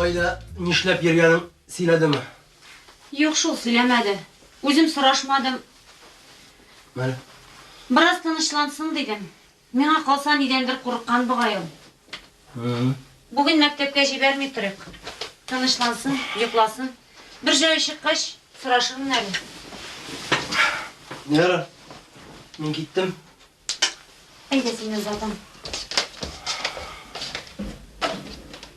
Кайда нишләп йөргәнен сөйләдеме? Юк шул, сөйләмәде. Үзем сорашмадым. Менә. Бераз тынычлансын дидем. Миңа калса, нидәндер курыккан бугай ул. Бүген мәктәпкә җибәрми торыйк. Тынычлансын, йокласын. Бер җае чыккач, сорашырмын әле. Ярар, мин киттем. Әйдә син үзалдың.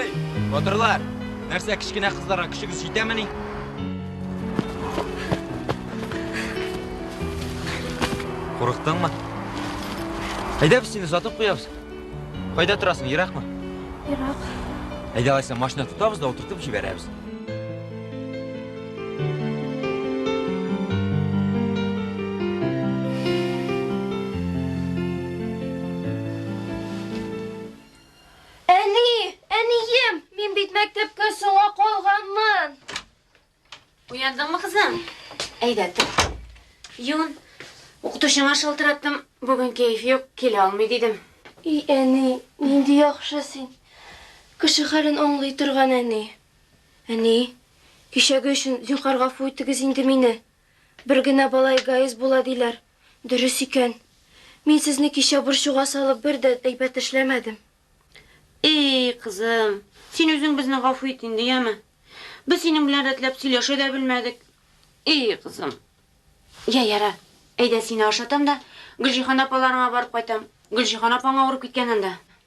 Эй, батырлар! Нәрсә, кечкенә кызларга көчегез җитәмени? Курыктыңмы? Әйдә без сине сатып куябыз. Кайда торасың, еракмы? Ерак. Әйдә алайса машина тотабыз да утыртып җибәрәбез. Әни! Әнием! Мин бит мәктәпкә соңа калганмын! Уяндыңмы, кызым? Әйдә, тор. Юн, укытучыңа шалтыраттым. Бүген кәеф юк, килә алмый дидем. И, әни, нинди яхшы син. Кеше хәлен аңлый торган әни. Әни, кичәге өчен зинһар гафу итегез инде мине. Бер генә бала эгоист була диләр. Дөрес икән. Мин сезне кичә борчуга салып бер дә әйбәт эшләмәдем. Эй, кызым, син үзең безне гафу ит инде, яме. Без синең белән рәтләп сөйләшә дә белмәдек. Эй, кызым. Я, яра. Әйдә, сине ашатам да, Гөлҗиһан апаларыңа барып кайтам. Гөлҗиһан апаң авырып киткән анда.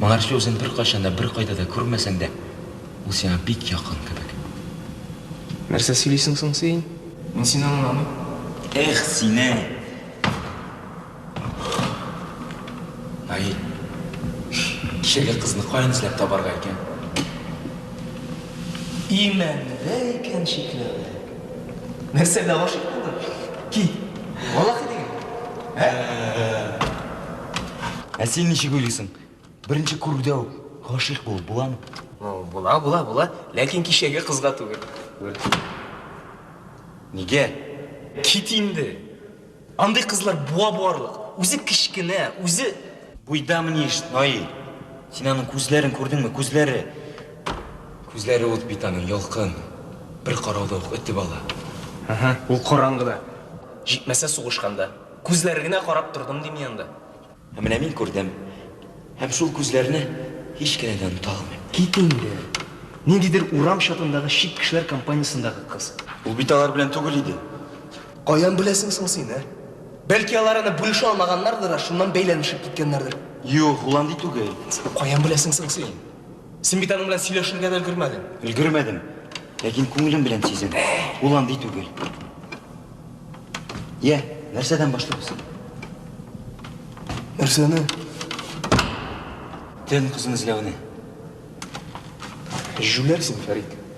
Моңарчы үзен беркайчан да, беркайда да күрмәсәң дә, ул сиңа бик якын кебек. Нәрсә сөйлисең соң син? Мин сине аңламыйм. Эх, сине! Наил, кичәге кызны каян эзләп табарга икән? Имәндә икән чикләвек. Нәрсә, дә гашыйк булдың? Кит, валлахи дигән. Ә? Ә син ничек уйлыйсың? Беренче күрүдә үк гашыйк булып буламы? Ну, була, була, була. Ләкин кичәге кызга түгел. Нигә? Кит инде. Андый кызлар буа буарлык. Үзе кечкенә, үзе... Буйда мнишь, Наил. Син аның күзләрен күрдеңме, күзләре? Күзләре ут бит аның, ялкын. Бер карауда ук өтеп ала. Ул караңгыда. Җитмәсә сугышканда. Күзләре генә карап тордым, дим мин анда. Ә менә мин күрдем. Һәм шул күзләрне һич кенә дә оныта алмыйм. Кит инде! Ниндидер урам чатындагы чит кешеләр компаниясендәге кыз. Ул бит алар белән түгел иде. Каян беләсең соң син, ә? Бәлки алар аны бүлешә алмаганнардыр да, шуннан бәйләнешеп киткәннәрдер. Юк, ул андый түгел. Каян беләсең соң син? Син бит аның белән сөйләшергә дә өлгермәдең. Өлгермәдем. Ләкин күңелем белән сизәм. Ул андый түгел. Йә, нәрсәдән башлыйбыз? Нәрсәне? Төн кызын эзләүне. Җүләрсең, Фәрит.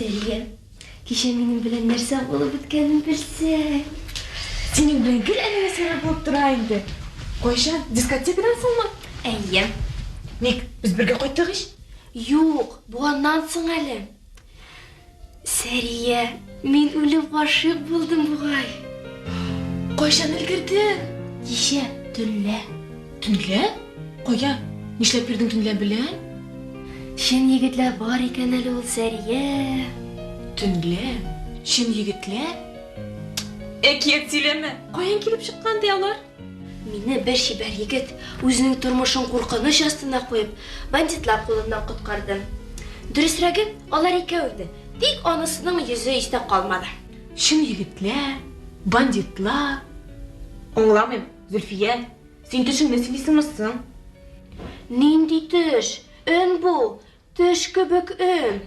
Сәрия, кичә минем белән нәрсә булып үткәнен белсәң. Синең белән гел әле нәрсәләр булып тора инде. Кайчан? Дискотекадан соңмы? Әйе. Ник, без бергә кайттык ич. Юк, бу аннан соң әле. Сәрия, мин үлеп гашыйк булдым бугай. Кайчан өлгердең? Кичә төнлә. Төнлә? Кая? Нишләп йөрдең төнлә белән? Чын егетләр бар икән әле ул, Сәрия. Төнлә? Чын егетләр? Әкият сөйләмә. Каян килеп чыккан ди алар? Мине бер чибәр егет үзенең тормышын куркыныч астына куеп, бандитлар кулыннан коткарды. Дөресрәге, алар икәү иде, тик анысының йөзе истә калмады. Чын егетләр, бандитлар. Аңламыйм, Зөлфия, син төшеңне сөйлисеңме соң? Нинди төш? Өн бу! Төш кебек өн.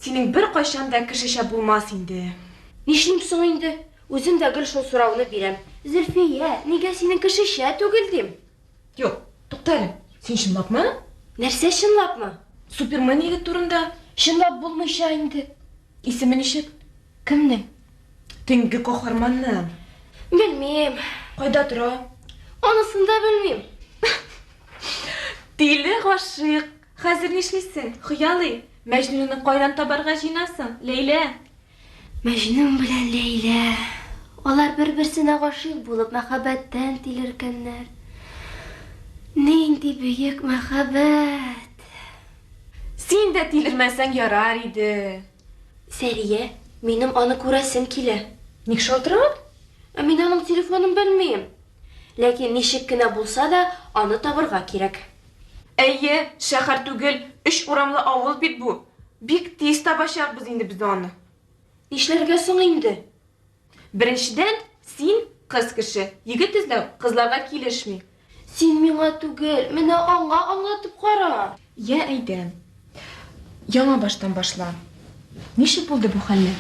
Синең беркайчан да кешечә булмас инде. Нишлим соң инде? Үзем дә гел шул сорауны бирәм. Зөлфия, нигә синең кешечә түгел, дим. Юк, тукта әле. Син чынлапмы? Нәрсә чынлапмы? Супермен егет турында. Чынлап булмыйча инде. Исеме ничек? Кемнең? Төнге каһарманның. Белмим. Кайда тора? Анысын да белмим. Тиле гашыйк. Хәзер нишлисең, хыялый? Мәҗнүнне кайдан табарга җыенасың, Ләйлә? Мәҗнүн белән Ләйлә. Алар бер-берсенә гашыйк булып, мәхәббәттән тилеркәннәр. Нинди бөек мәхәббәт! Син дә тилермәсәң ярар иде. Сәрия, минем аны күрәсем килә. Ник шалтырат? Ә мин аның телефонын белмим. Ләкин ничек кенә булса да, аны табырга кирәк. Әйе, шәһәр түгел, өч урамлы авыл бит бу. Бик тиз табачакбыз инде без аны. Нишләргә соң инде? Беренчедән, син, кыз кеше, егет эзләү кызларга килешми. Син миңа түгел, менә аңа аңлатып кара. Йә, әйдә. Яңа баштан башла. Ничек булды бу хәлләр?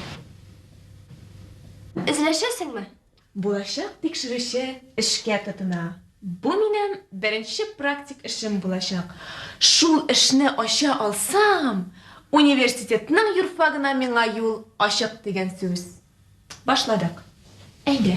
Эзләшәсеңме? Булачак тикшерүче эшкә тотына. Бу минем беренче практик эшем булачак. Шул эшне ача алсам, университетның юрфагына миңа юл ачык дигән сүз. Башладык. Әйдә.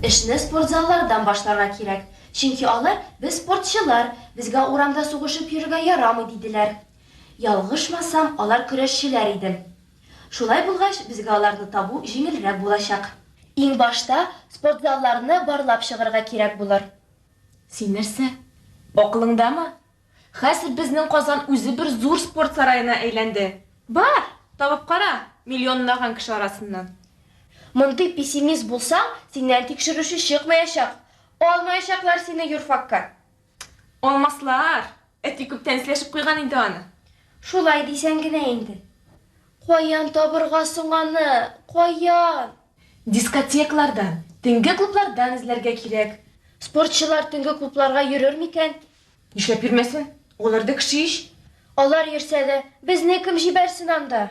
Эшне спортзаллардан башларга кирәк, чөнки алар, без спортчылар, безгә урамда сугышып йөрергә ярамый, диделәр. Ялгышмасам, алар көрәшчеләр иде. Шулай булгач, безгә аларны табу җиңелрәк булачак. Иң башта спортзалларны барлап чыгарга кирәк булыр. Син нәрсә, акылыңдамы? Хәзер безнең Казан үзе бер зур спорт сараена әйләнде. Бар, табып кара, миллионлаган кеше арасыннан. Мондый пессимист булсаң, синнән тикшерүче чыкмаячак. Алмаячаклар сине юрфакка. Алмаслар! Әти күптән эзләшеп куйган инде аны. Шулай дисәң генә инде. Каян табырга соң аны, каян? Дискотекалардан, төнге клублардан эзләргә кирәк. Спортчылар төнге клубларга йөрер микән? Нишләп йөрмәсен? Алар да кеше ич. Алар йөрсә дә, безне кем җибәрсен анда?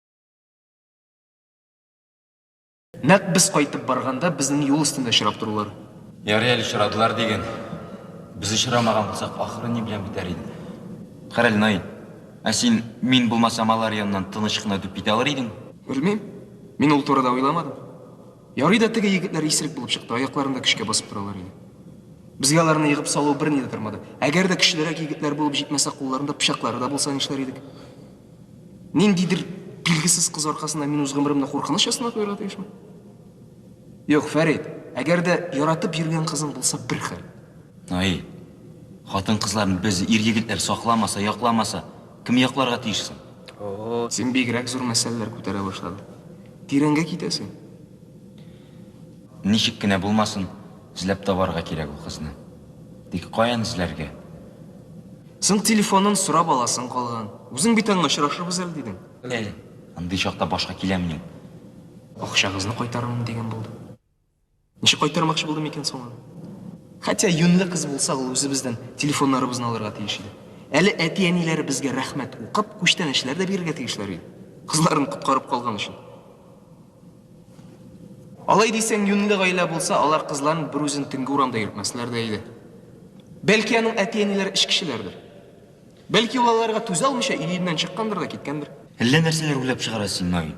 Нәкъ без кайтып барганда безнең юл өстендә очрап торулар. Ярый әле очрадылар диген. Без очрамаган булсак, ахыры ни белән бетәр иде? Карале, Наил. Ә син, мин булмасам, алар яныннан тыныч кына үтеп китә алыр идеңме? Белмим. Мин ул турыда уйламадым. Ярый да теге егетләр исерек булып чыкты, аякларын да көчкә басып торалар иде. Безгә аларны егып салу берни дә тормады. Әгәр дә көчлерәк егетләр булып җитмәсә, кулларында пычаклары да булса нишләр идек? Ниндидер билгесез кыз аркасында мин үз гомеремне куркыныч астына куярга тиешме? Юк, Фәрид, әгәр дә яратып йөргән кызың булса, бер хәл. Ай, хатын кызларын без ир-егетләр сакламаса, якламаса, кем якларга тиеш соң? О, син бигрәк зур мәсьәләләр күтәрә башладың. Тирәнгә китәсең. Ничек кенә булмасын, эзләп табарга кирәк ул кызны. Тик каян эзләргә? Соң телефонын сорап аласың калган. Үзең бит аңа очрашырбыз әле дидең. Э, андый чакта башка киләмени? Акчагызны кайтарырмын дигән булды. Ничек кайтармакчы булды микән соң аны? Хәтя юньле кыз булса, ул үзебездән телефоннарыбызны алырга тиеш иде. Әле әти-әниләре безгә рәхмәт укып, күчтәнәчләр дә бирергә тиешләр иде. Кызларын коткарып калган өчен. Алай дисәң, юньле гаилә булса, алар кызларын берүзен төнге урамда йөртмәсләр дә иде. Бәлки аның әти-әниләре эчкечеләрдер. Бәлки ул аларга түзә алмыйча өеннән чыккандыр да киткәндер. Әллә нәрсәләр уйлап чыгара син, Наил.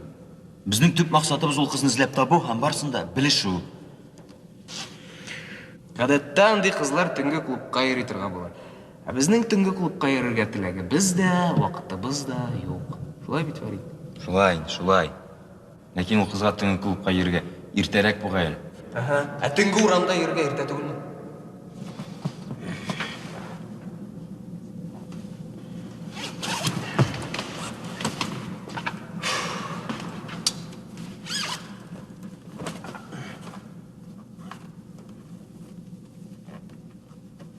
Безнең төп максатыбыз ул кызны эзләп табу һәм барысын да белешү. Гадәттә андый кызлар төнге клубка йөри торган була. Ә безнең төнге клубка йөрергә теләгебез дә, вакытыбыз да юк. Шулай бит, Фәрит? Шулай инде, шулай. Ләкин ул кызга төнге клубка йөрергә иртәрәк бугай әле. Әһә. Ә төнге урамда йөрергә иртә түгелме?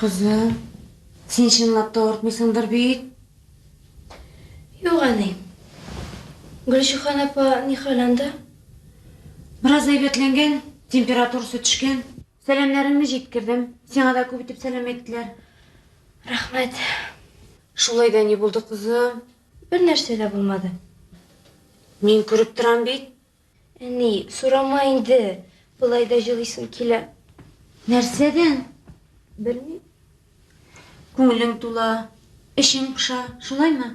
Кызым, син чынлап та артмыйсыңдыр бит? Юк, әни. Гөлшихан апа ни хәл анда? Бераз әйбәтләнгән, температурасы төшкән. Сәламнәреңне җиткердем. Сиңа да күп итеп сәлам әйттеләр. Рәхмәт. Шулай да ни булды, кызым? Бернәрсә дә булмады. Мин күреп торам бит. Әни, сорама инде. Болай да җылыйсым килә. Нәрсәдән? Белмим. Күңелең тула, эчең поша, шулаймы?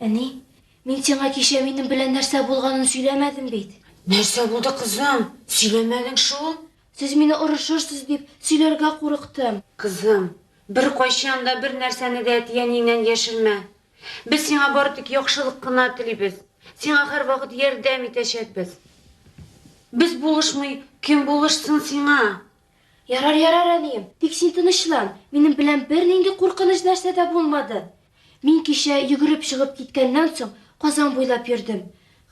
Әни, мин сиңа кичә минем белән нәрсә булганын сөйләмәдем бит. Нәрсә булды, кызым? Сөйләмәдең шул. Сез мине орышырсыз дип, сөйләргә курыктым. Кызым, беркайчан да бер нәрсәне дә әти-әниеңнән яшермә. Без сиңа бары тик яхшылык кына телибез. Сиңа һәрвакыт ярдәм итәчәкбез. Без булышмый, кем булышсын сиңа? Ярар, ярар, әнием, тик син тынычлан, минем белән бернинди куркыныч нәрсә дә булмады. Мин кичә йөгереп чыгып киткәннән соң Казан буйлап йөрдем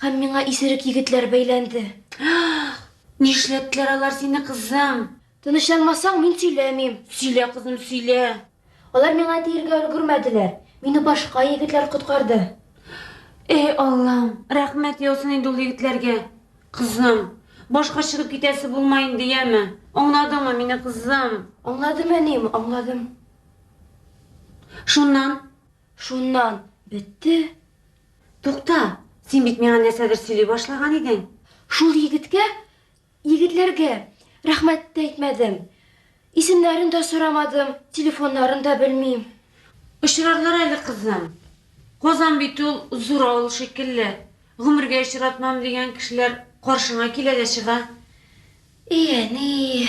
һәм миңа исерек егетләр бәйләнде. Ах! Нишләттеләр алар сине, кызым? Тынычланмасаң, мин сөйләмим. Сөйлә, кызым, сөйлә. Алар миңа тиергә өлгермәделәр, мине башка егетләр коткарды. Эй, Аллам, рәхмәт яусын инде ул егетләргә, кызым. Башка чыгып китәсе булмай инде, яме? Аңладыңмы мине, кызым? Аңладым, әнием, аңладым. Шуннан? Шуннан бетте. Тукта, син бит миңа нәрсәдер сөйли башлаган идең. Шул егеткә Егетләргә рәхмәт тә әйтмәдем. Исемнәрен дә сорамадым, телефоннарын да белмим. Очрарлар әле, кызым. Казан бит ул зур авыл шикелле, гомергә очратмам дигән кешеләр каршыңа килә дә чыга. И әни,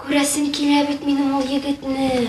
күрәсем килә бит минем ул егетне.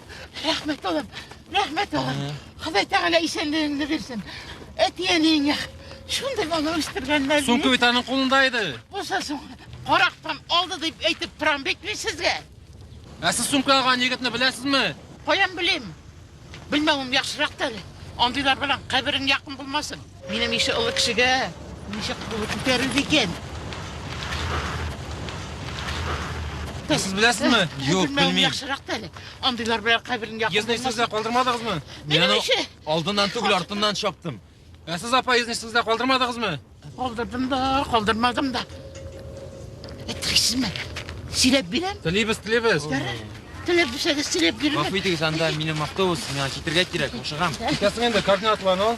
Рәхмәт улым, рәхмәт улым. Ходай Тәгалә исәнлегеңне бирсен. Әтиәниеңә шундый бала үстергәннәр. Соң бит аның кулында иде. Булса соң, карактан алды дип әйтеп торам бит мин сезгә. Ә сез сумка алган егетне беләсезме? Каян белим? Белмәвем яхшырак әле. Андыйлар белән каберең якын булмасын. Минем ише олы кешегә ничек булып күтәрер икән? Сез беләсезме? Юк, белмим. Яхшырак та әле. Андыйлар белән каберен якын. Езны сезгә калдырмадыгызмы? Мин аны алдыннан түгел, артыннан чаптым. Ә сез апа езны сезгә калдырмадыгызмы? Калдырдым да, калдырмадым да. Әйтерсезме? Сөйләп бирәм. Телибез, телибез. Теләп бирсәгез, теләп бирәм. Гафу итегез, анда минем автобус, миңа китергә кирәк, ашыгам. Китәсең инде, координатларын ал.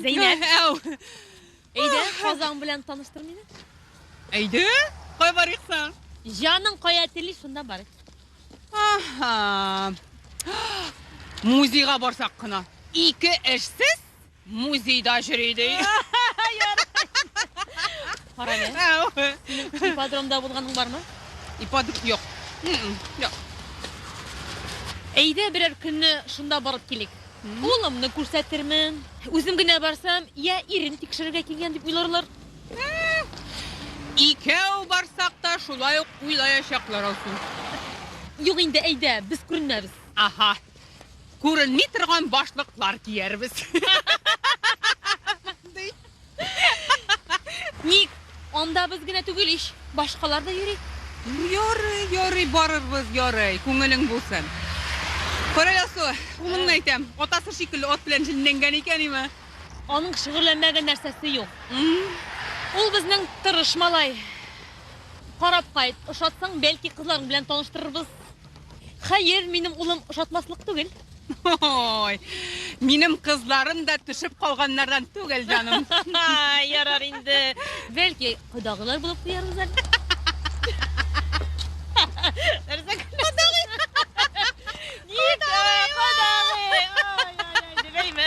Зәйнәп. Әу. Әйдә, Казан белән таныштыр мине. Әйдә, кай барыйк соң? Җаның кая тели, шунда барыйк. Аһа. Музейга барсак кына. Ике эшсез Музейда йөри ди. Кара әле. Ипподромда булганың бармы? Ипподром юк. Юк. Әйдә берәр көнне шунда барып килик. Улымны күрсәтермен. Үзем генә барсам, я ирен тикшерергә килгән дип уйларлар. Икәү барсак та шулай ук уйлаячаклар алсын. Юк инде, әйдә, без күренмәбез. Аһа. Күренми торган башлыклар киярбез. Ди. Ник? Анда без генә түгел ич, башкалар да йөри. Ярый, ярый, барырбыз, ярый, күңелең булсын. Кара ясу, улыңны әйтәм, атасы шикелле ат белән җенләнгән икән име? Аның шөгыльләнмәгән нәрсәсе юк. Ул безнең тырыш малай. Карап кайт, ошатсаң, бәлки кызларың белән таныштырырбыз. Хәер, минем улым ошатмаслык түгел. Ой, минем кызларым да төшеп калганнардан түгел, җаным. Ярар инде. Бәлки, кодагылар булып куярбыз әле. Нәрсә кодагый? Ник кодагый? Ай, ай, ай, дибәйме?